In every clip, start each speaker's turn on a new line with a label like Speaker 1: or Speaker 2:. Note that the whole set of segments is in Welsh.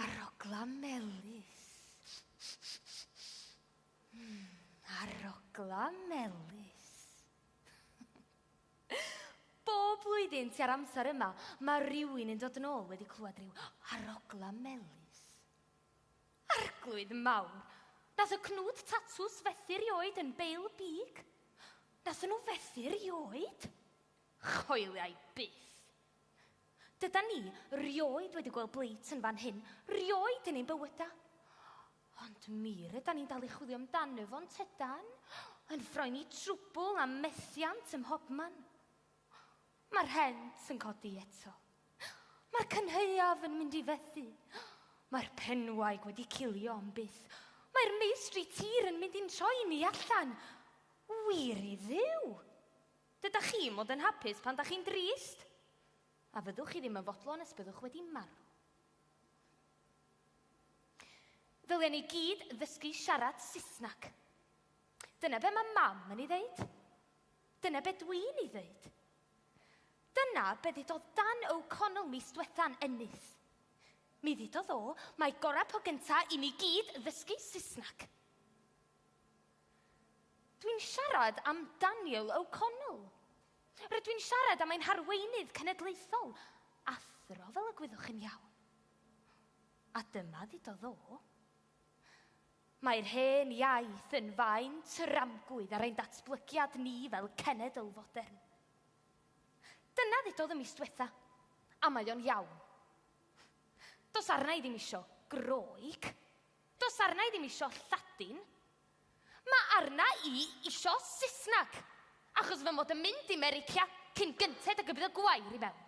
Speaker 1: Arogla melys. Mm, arogla melys. Bob blwyddyn tua'r amser yma, mae rhywun yn dod yn ôl wedi clywed rhyw arogla melys. Arglwydd mawr, nath y cnwd tatws fethu rioed yn Bale Beag? Nathon nhw fethu rioed? Choeliai byth. Dydan ni rioed wedi gweld blate yn fan hyn, rioed yn ein bywyda. Ond mi rydan ni'n dal i chwilio amdano fo, yntydan? Yn froeni trwbwl a methiant ym mhobman. Mae'r rhent yn codi eto. Mae'r cynhaeaf yn mynd i fethu. Mae'r penwaig wedi cilio am byth. Mae'r meistri tir yn mynd i'n troi ni allan. Wir i dduw! Dydych chi'n mod yn hapus pan da chi'n drist? A fyddwch chi ddim yn fodlon nes byddwch wedi marw. Ddylen ni gyd ddysgu siarad Saesneg. Dyna be mae mam yn ei ddeud. Dyna be dwi'n ei ddweud. Dyna be ddudodd Dan O'Connell mis dwetha'n Ennis. Mi ddudodd o, mae gorau po gynta i ni gyd ddysgu Saesneg. Dwi'n siarad am Daniel O'Connell. Rydw i'n siarad am ein harweinydd cenedlaethol, athro fel y gwyddwch chi'n iawn. A dyma ddudodd o. Mae'r hen iaith yn faen tramgwydd ar ein datblygiad ni fel cenedl fodern. Dyna ddudodd y mis diwetha, a mae o'n iawn. Does arna i ddim isio Groeg, does arna i ddim isio Lladin, mae arna i isio Saesneg, achos fy mod yn mynd i Merica cyn gynted ag y bydd y gwair i mewn.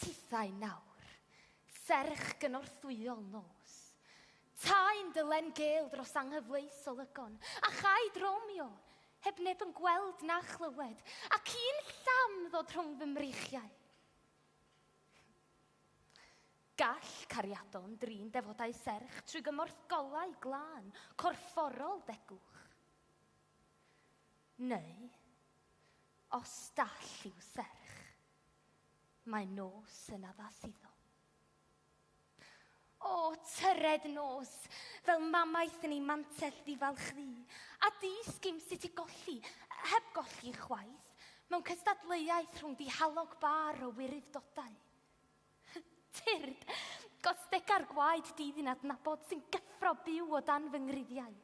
Speaker 1: Tithau nawr, serch gynorthwyol nos. Tai'n dylen gel dros anghyfleus olygon, a chai dromio, heb neb yn gweld na chlywed, ac un llam ddod rhwng fy mreichiau. Gall cariadon drin defodau serch trwy gymorth golau glân, corfforol degwch. Neu, Os dall i'w serch, mae nos yn addas iddo. O, tyred nos, fel mamaeth yn ei mantell ddifalch ddu, a di sgim sut i golli, heb golli chwaith, mewn cystadleuaeth rhwng dihalog bar o wiryfdodau. Tyrd, gostega'r gwaed dydd i'n adnabod sy'n gyffro byw o dan fy ngriddiau.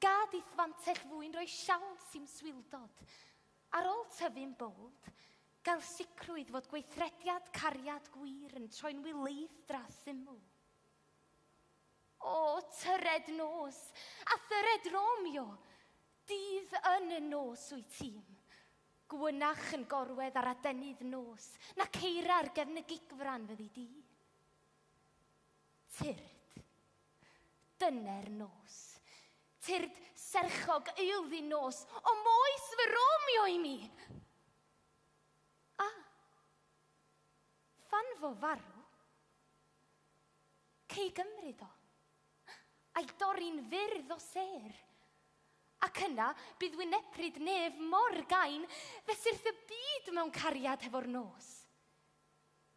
Speaker 1: Gad i'th fantell fwyn roi siawns i'm swildod. Ar ôl tyfu'n bowld, gael sicrwydd fod gweithrediad cariad gwir yn troi'n wileith dra syml. O, tyred nos, a thyred Romeo, dydd yn y nos wyt ti'm. Gwynach yn gorwedd ar adenydd nos, na ceira'r gefnygigfran fyddi di. Tyrd. Dyne'r nos. Tyrd serchog eilddi nos o moes fy Romeo i mi! A. Phan fo farw, cei gymryd o, a'i dorri'n fyrdd o sêr, ac yna bydd wynepryd nef mor gain, fesurth y byd mewn cariad hefo'r nos.